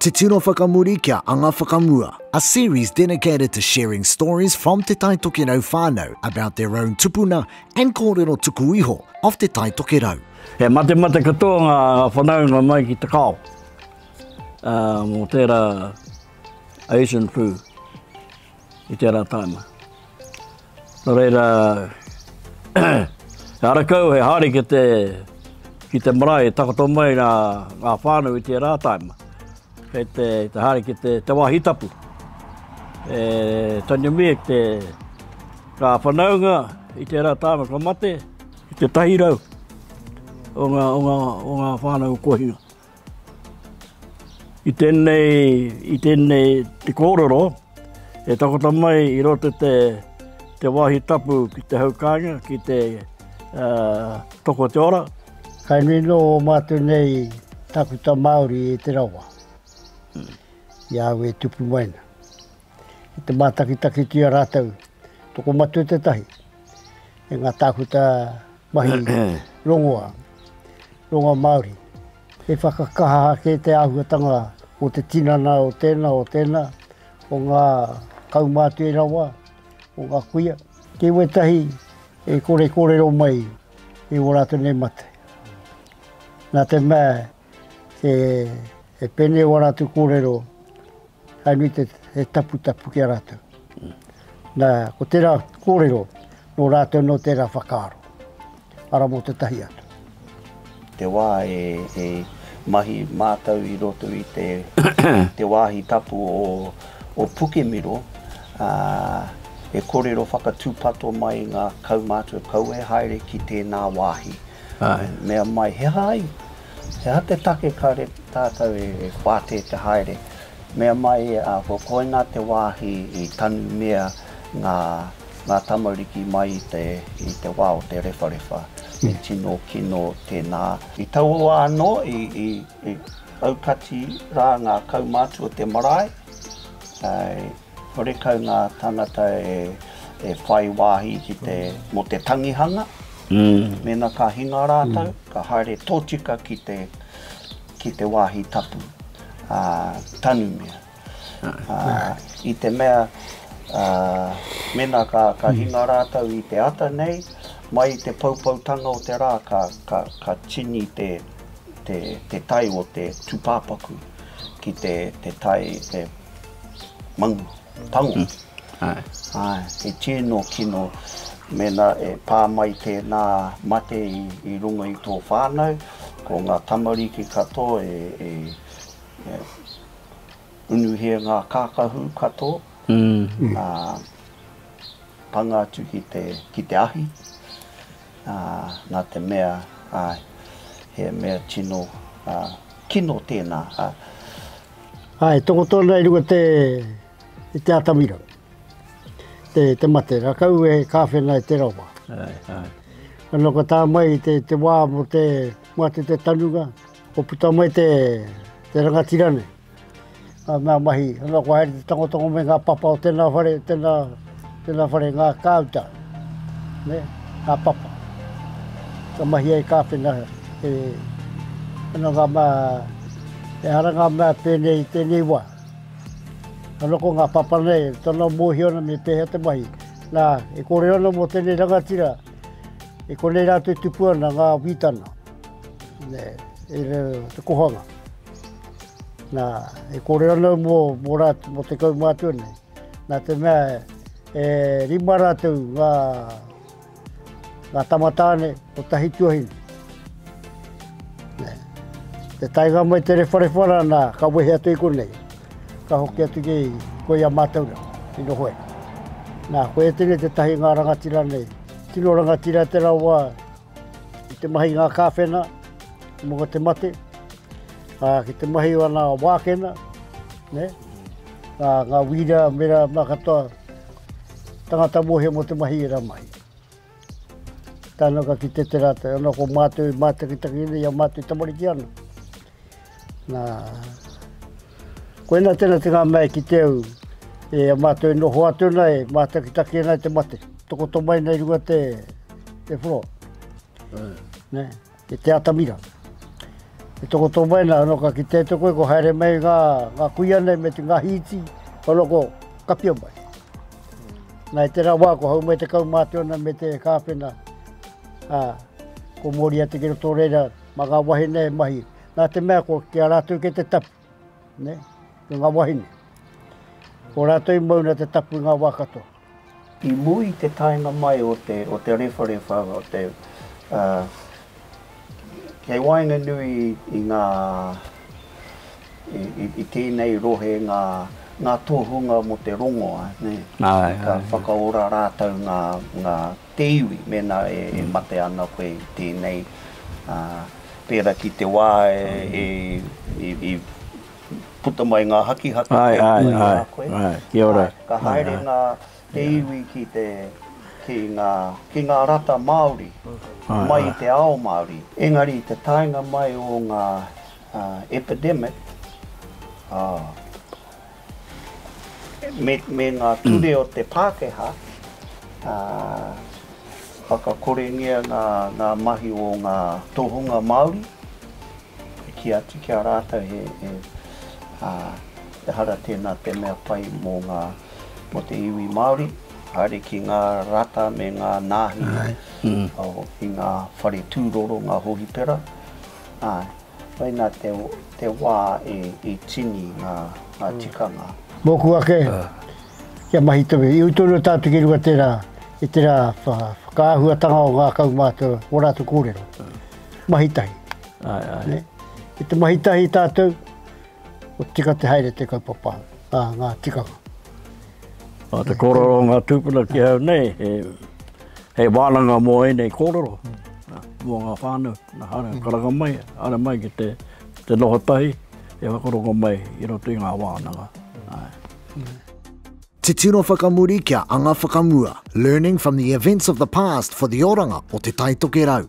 Te Tino Whakamuri kia Anga Whakamua, a series dedicated to sharing stories from Te Tai Tokerau whānau about their own tupuna and kōrero tuku iho of Te Tai Tokerau. He matemate katoa ngā whanaunga mai ki Te Kao mō tērā Asian flu. i tērā tāna. Nō reira, he ara kau, he haere ki te, ki te marae e takoto mai ngā, ngā whānau i tērā tāna. Kei te, te haere ki te, te wāhi tapu. E Tanya Miek te, ngā whanaunga i tērā tāna ka mate, i te tahi rau o ngā, o ngā, o ngā whānau kohinga. I tēnei, i tēnei te kōrero, e takoto mai i roto te, te wāhi tapu ki te hau kāinga, ki te toko te ora. Kai nui nō o mātou nei takuta Māori e te rawa, i a au e tupu mai na. I te mātakitakitia rātou, tokomatua tētahi, e ngā tākuta Mahi rongoa, rongoa Māori. He whakakaha ake te āhuatanga o te tinana o tēnā, o tēnā, o ngā kaumātua rawa, o ngā kuia. Kei wētahi e kore kōrero mai i ō rātou nei mate. Nā te mea He he pēnei wā rātou kōrero, hai nui te he taputapu ki a rātou. Nā, ko tērā kōrero, nō rātou nō tērā whakaaro, ara mō te tahi atu. Te wā e, e mahi mātou i roto i te, te wāhi tapu o, o Pukemiro, ā, e kōrero whakatūpato mai ngā kaumātua kau e haere ki tēnā wāhi. Āe. Mea mai, he aha ai? He aha te take kāre tātou e whātē te haere? Mea mai, ko koinā te wāhi i tanumia ngā, ngā tamariki mai i te, i te wā o te rewharewha. He tino kino tēnā. I taua wā anō, i, i, i aukati rā ngā kaumātua o te marae, āe. Horekau ngā tāngata e whai wāhi ki te, mō te tangihanga, mēnā ka hinga rātou, ka haere tōtika ki te, ki te wāhi tapu, ā, tanumia. Ā, i te mea, ā, mēnā ka, ka hinga rātou i te ata nei, mai i te poupoutanga o te rā ka, ka, ka tini te, te, te tai o te tūpāpaku ki te, te tai, te Mangu, pango. Mm. Aye. Aye. He tino kino mena e pā mai tēnā mate i, i runga i tō whānau, ko ngā tamariki katoa e, e, e unuhia ngā kākahu katoa, mm. a, panga atu ki te, ki te ahi, a, nā te mea, a, he mea tino a, kino tēnā. A, Ā, e toko tonu ai runga te, i te atamira, te, te mate, rakau e kāwhena e te rawa. Ai, ai. Ano ka tā mai te, te wā mo te, mo atu te tanunga, ko puta mai te, te rangatira nei, a, mea mahi, ano ko haere te tangotango me ngā papa o tēnā whare, tēnā, Tēnā whare ngā kāuta, nē, ngā papa. Ka mahia e Kāwhena he ananga mā, he aranga mā pēnei i tēnei wā. Ka noko ngā papa nei, tana mōhio ana me pēhea te mahi. Nā, e kōrero ana mō tēnei rangatira, e konei rātou e tupu ana ngā wītana, nē, i raro te kohanga. Nā, e kōrero ana mō, mō rātou, mō te kaumātua nei. Nā te mea e rima rātou ngā, ngā tamatāne o tahi tuahine. Te taenga mai te rewharewha rā nā, ka wehe atu i konei. Ka hoki atu ki koi a mātou rā, i noho e. Nā, koe tēnei te tahi ngā rangatira nei. Tino rangatira te rawa Ki te mahi ngā kāwhena mō te mate, ā, ki te mahi o ngā wākena, ne? Ā, ngā wīra, mera, mā katoa, tangata mōhio mō te mahi e rā mai. Tāna ka ki te te rātou, anō ko mātou mātakitaki nei a mātou tamariki ana. Na, koina tena te nga mea e kite au, e a matou e noho atu ana e matakitaki ana e te mate, tokoto mai nei runga te te floor. Ne, e te atamira. E tokoto mai na, no ka kite atu koe ko haere mai nga nga kuia nei me te nga hiiti, o loko kapia mai. Na i tera wa ko hau mai te kaumate ona me te kapena, a, ko Moriata ki roto reira, Mā ngā wahine e mahi, nā te mea ko ki a rātou kei te tapu, nē, ko ngā wahine. Ko rātou i mauna te tapu i ngā wā katoa. I muri i te taenga mai o te, o te rewharewha, o te, ā, kei waenganui i ngā, i, i, i tēnei rohe ngā, ngā tohunga mō te rongoa, nē. Āe, āe. Ka whakaora rātou ngā, ngā te iwi mēnā e mate ana koe i tēnei, ā, pērā ki te wā i puta mai ngā hakihaki ki a koe. Āe, āe, āe, āe, kia ora. Āe, ka haere ngā, te iwi ki te, ki ngā, ki ngā rata Māori, mai i te ao Māori. Engari i te taenga mai o ngā, ā, epidemic, ā. me ngā ture o te Pākehā, whakakorengia ngā mahi o ngā tohunga Māori, e kī atu ki a rātou he, ehara tēnā te mea pai mō ngā, mō te iwi Māori, haere ki ngā rata me ngā nāhi i ngā whare tūroro, ngā hohipera, āe. Koinā te wā i tini ngā tikanga. Mōku ake, kia mahi tonu. I ū tonu o tātou ki runga tērā, i tērā whakaahuatanga o ngā kaumātua, o rātou kōrero. Mahi tahi. Ai, ai. Ki te mahi tahi tātou, kua tika te haere te kaupapa, ngā tikanga. Nā te kōrero o ngā tūpuna ki au nei, he wānanga mō ēnei kōrero, mō ngā whānau, nā haere karanga mai, haere mai ki te noho tahi, e whakarongo mai i roto i ngā wānanga. Te tino whakamuri kia anga whakamua, learning from the events of the past for the oranga o Te Taitokerau.